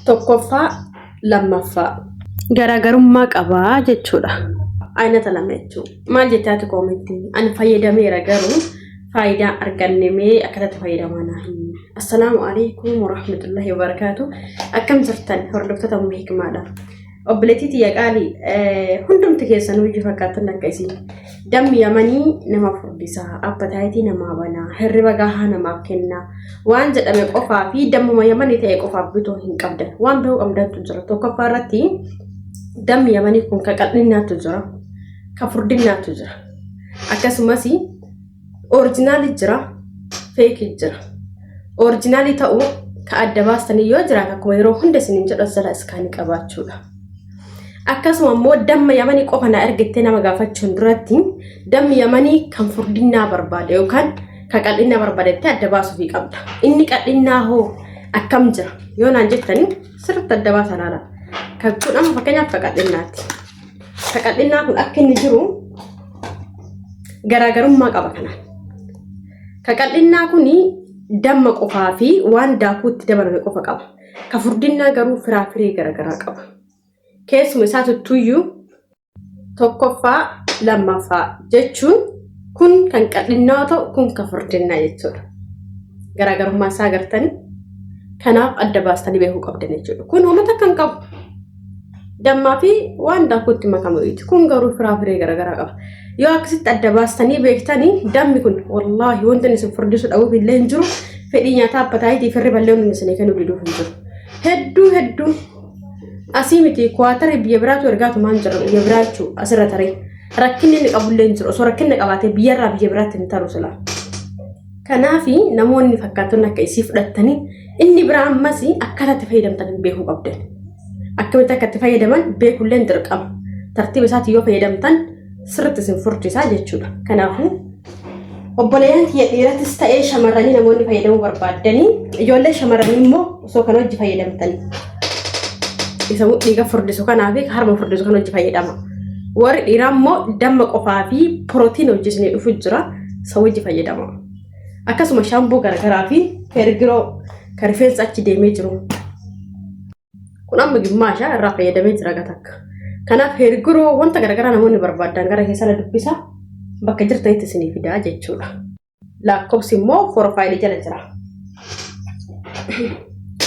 tokkoffaa lammaffaa garaagarummaa qabaa jechuudha. Aynata lama jechuun maal jechaati koomentiin ani fayyadameera garuu faayidaa arganne mee akkatatti fayyadamaa naa hin assalaamu alaikum warahmatullahi wabarakaatu akkam jirtan hordoftoota umma hikmaadha. Obboleettii tiyya qaalii hundumti keessanuu iyyuu fakkaattan akka isiin dammi yamanii nama furdisaa appataayitii namaa banaa hirriba gahaa namaaf kennaa waan jedhame qofaa fi dammuma yamanii ta'e qofaaf bitoo hin qabdan waan biroo qabdaatu jira tokkoffaa irratti dammi yamanii kun ka qal'innaatu jira ka furdinnaatu jira akkasumas Orijinaali jira, feeki jira. Orijinaali ta'u ka adda baastanii yoo jiraate akkuma yeroo hunda isiniin jedhu asala iskaanii qabaachuudha. Akkasuma immoo damma yamanii qofa na ergittee nama gaafachuun duratti dammi yamanii kan furdinnaa barbaada yookaan kan qal'innaa barbaadettee adda baasuufii qabda. Inni qal'innaa hoo akkam jira yoo naan jettanii sirriitti adda baasa laala. Kan kun amma fakkeenyaaf ka qal'innaati. Qaqal'innaa kun akka inni jiru garaagarummaa qaba kanaan. Qaqal'innaa kun damma qofaa fi waan daakuutti dabalame qofa qaba. Ka furdinnaa garuu firaafiree garaagaraa qaba. Keessuma isaa tuttuyyuu tokkoffaa lammaffaa jechuun kun kan qal'innaa yoo ta'u kun kan furdinnaa jechuudha. Garaagarummaa isaa agartanii kanaaf adda baastanii beekuu qabdan jechuudha. Kun uummata kan qabu dammaa fi waan daakuutti makamu jechuudha. Kun garuu firaa firee garaagaraa qaba. Yoo akkasitti adda baastanii beektanii dammi kun wallaahi wanti isin furdisuu dhabuuf illee hin jiru. Fedhii nyaataa appataayitii firri ballee hundi isin kennuu diduuf hin jiru. Hedduu hedduu asii miti kuwaatarii biyya biraatu ergaatu maal jira biyya biraa jechuun asirra taree rakkinni inni qabullee hin jiru. Osoo rakkinni qabaatee biyyarraa biyya biraatti hin taru silaa. Kanaaf namoonni fakkaattonni akka isii fudhattanii inni biraa ammas akkaataa itti fayyadamtan beekuu qabdan. Akkamitti akka itti fayyadaman beekullee dirqama. Tartiiba isaatti yoo fayyadamtan sirriitti isin furdisaa jechuudha. Kanaafuu obboleeyyan kiyya dhiirattis ta'ee shamarranii namoonni fayyadamuu barbaaddanii ijoollee shamarranii immoo osoo kan hojii fayyadamtan isa dhiiga furdisu kanaa fi harma furdisu kan hojii fayyadama. Warri dhiiraa immoo damma qofaa fi pirootiin hojjisnee dhufu jira. isa wajji fayyadama. Akkasuma shaamboo garagaraa fi heergiroo kan rifeensa achi deemee jiru. Kun amma gimmaasha irraa fayyadamee jira gatakka. Kanaaf heergiroo wanta garagaraa namoonni barbaadan gara keessana dubbisa bakka jirtanitti isinii fidaa jechuudha. Lakkoofsi immoo porofaayilii jala jira.